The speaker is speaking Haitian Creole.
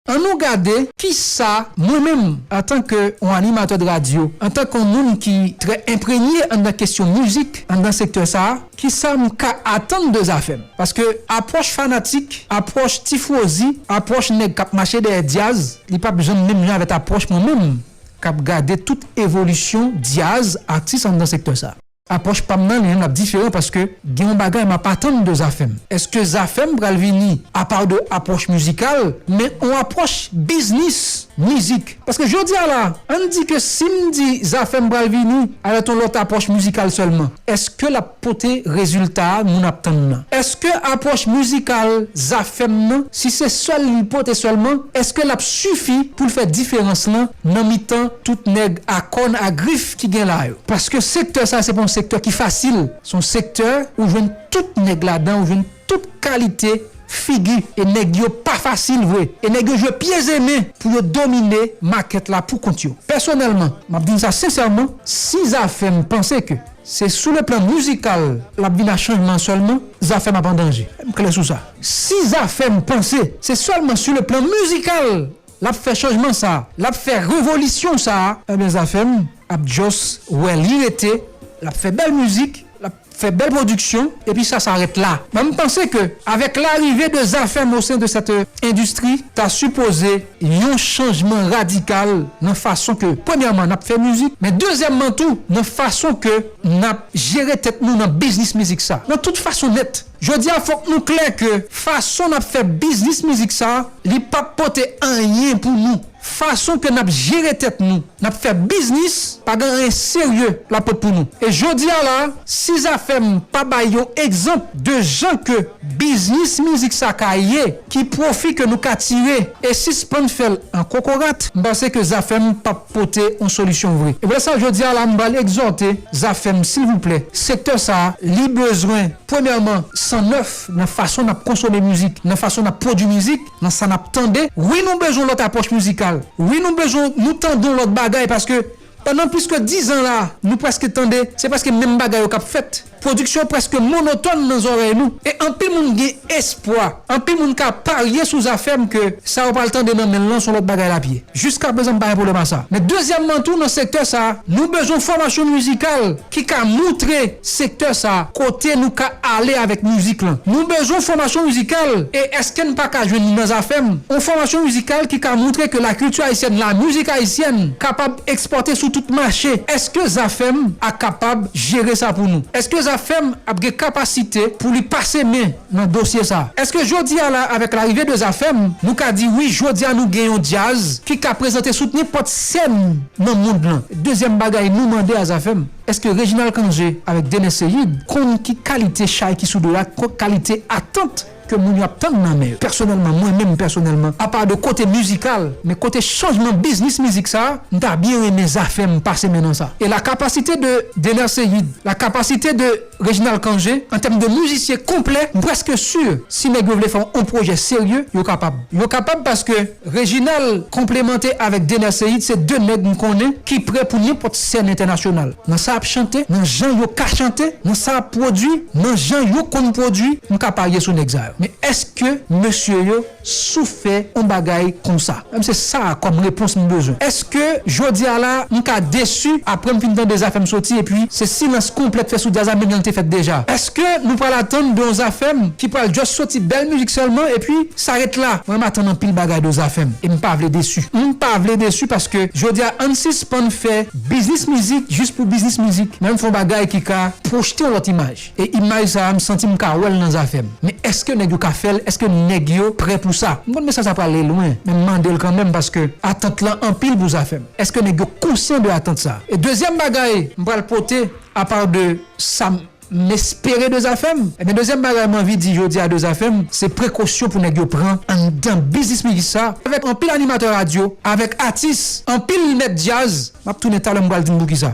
An nou gade ki sa mwen menm antan ke on animatè de radyo, antan kon moun ki trè enprenye anndan kesyon mizik anndan sektè sa, ki sa m ka atann de Zafèm. Paske apwòch fanatik, apwòch tifwozi, apwòch nèg k ap mache dèyè dyaz, li p ap janm menm jan avèt apwòch mwen menm k ap gade tout evolisyon dyaz, atis anndan sektè sa. Apwòch pa m nan li an ap diferan paske gen yon bagay m ap atann de Zafèm. Eske Zafèm pral vini apa de apwòch mizikal men yon apwòch biznis mizik? Paske jodi a la, ann di ke si m di Zafèm pral vini avèk yon lòt apwòch mizikal sèlman, eske l ap pote rezilta a moun ap tann nan? Eske apwòch mizikal Zafèm nan, si se sèl li l pote sèlman, eske l ap sifi pou l fè diferans lan nan mitan tout nèg a kòn a grif ki gen la yo. Paske sektè sa se pa yon sektè ki fasil. Se yon sektè ou jwenn tout nèg ladan, ou jwenn tout kalite figi. E nèg yo pa fasil vre. E nèg yo jwe pye ze men pou yo domine makèt la pou kont yo. Pèsonèlman, m ap di n sa sensèman, si Zafèm panse ke se sou le plan mizikal l ap vin a chanjman sèlman, Zafèm ap an danje. M klè sou sa. Si Zafèm panse se sèlman sou le plan mizikal Lap fè chanjman sa. Lap fè revolisyon sa. Ebyen Zafem ap just wè li rete lap fè bèl mizik lap fè bèl production epi sa sa ret la men m panse ke avek larive de Zafem o sen de cette industrie ta sipoze yon chanjman radikal nan fason ke premyèman nap fè mizik men dezyèmman tou nan fason ke nap jere tèt nou nan biznis mizik sa nan tout fason nèt. Jodi a fòk nou klè ke fason nap fè biznis mizik sa li pap pote anyen pou nou. Fason ke nap jere tèt nou, nap fè biznis pa gen anyen serye lap pot pou nou. E jodi a la si Zafèm pa bay yon egzanp de jan ke biznis mizik sa ka ye, ki pwofi ke nou ka tire e sispann fèl an kokorat, m panse ke Zafèm pap pote yon solisyon vre. E pou lè sa jodi a la m pral egzòte Zafèm silvouplè sektè sa li bezwen Premyèman, san nèf nan fason n ap konsome mizik, nan fason n ap pwodui mizik, nan sa n ap tande. Wi nou bezwen lòt apwòch mizikal. Wi nou bezwen nou tande yon lòt bagay paske pandan plis ke dizan la a, nou prèske tande se prèske menm bagay yo k ap fèt. Pwodiksyon prèske monotòn nan zòrèy nou. E anpil moun gen espwa, anpil moun ka parye sou zafè m ke sa yo pral tande nan men l lan s on lòt bagay l ap ye. Jiskaprezan m pa gen pwoblèm a sa. Men dezyèmman tou nan sektè sa a, nou bezwen fòmasyon mizikal ki ka moutre sektè sa kote nou ka ale avèk mizik lan. Nou bezwen fòmasyon mizikal e eske n pa ka jwenn li nan Zafèm? On fòmasyon mizikal ki ka moutre ke lakilti ayisyèn, lamizik ayisyèn kapab ekspòte sou tout mache. Eske Zafèm a kapab jere sa pou nou? Eske Zafèm ap gen kapasite pou li pase men nan dosye sa. Eske jodia la avèk larive de Zafèm nou ka di wi jodia nou gen yon djaz ki ka prezante sout nenpòt sèn nan mond lan? Dezyèm bagay nou mande a Zafèm, eske Reginald Cangé avèk Dener Ceïde konn ki kalite chay ki sou do a, ki kalite atant ke moun yo ap tann nan men yo? Pèsonèlman, mwen menm pèsonèlman, apa de kote mizikal, men kote chanjman biznis mizik sa, m ta byen renmen Zafèm pase men nan sa. E la kapasite de Dener Ceïde, la kapasite de Reginald Cangé, an tèm de mizisyen konplè, m preske sur si nèg yo vle fè on pwojè serye, yo kapab. Yo kapab paske Reginald konplemante avèk Dener Ceïde se 2 nèg m konnen ki prè pou nenpòt sèn entènasyonal. Nan sa ap chante, nan jan yo ka chante, nan sa ap pwodui, nan jan yo konn pwodui, m ka parye sou nèg sa yo. Men èske mesye yo. sou fè on bagay konsa menm se sa kòm repons m bezwen eske jodi a la m ka desu aprè m fin tande zafèm soti epi se silans konplè k fè sou djaz la menm jan l te fèt deja eske nou pral atann de on zafèm ki pral just soti bèl mizik sèlman epi sa ret la mwen m atann anpil bagay de zafèm e m pa vle desu m pa vle desu paske jodi a ann sispann fè biznis mizik just pou biznis mizik men ann fè on bagay ki ka pwojte on lòt imaj. E imaj sa m santi m ka wè l nan zafè m. Men èske nèg yo ka fè l, èske nèg yo prè pou sa? M konn mesaj sa prale lwen, men m mande l kanmenm paske atant lan anpil pou zafè m. Èske nèg yo konsyan de atant sa? E dezyèm bagay m pral pote apa de sa m espere de zafè m, ebyen dezyèm bagay m anvi di jodi a de zafè m, se prekosyon pou nèg yo pran anndan biznis mizik sa avèk anpil animatè radyo, avèk atis, anpil mèt djaz, m ap tounen talè m pral di n poukisa.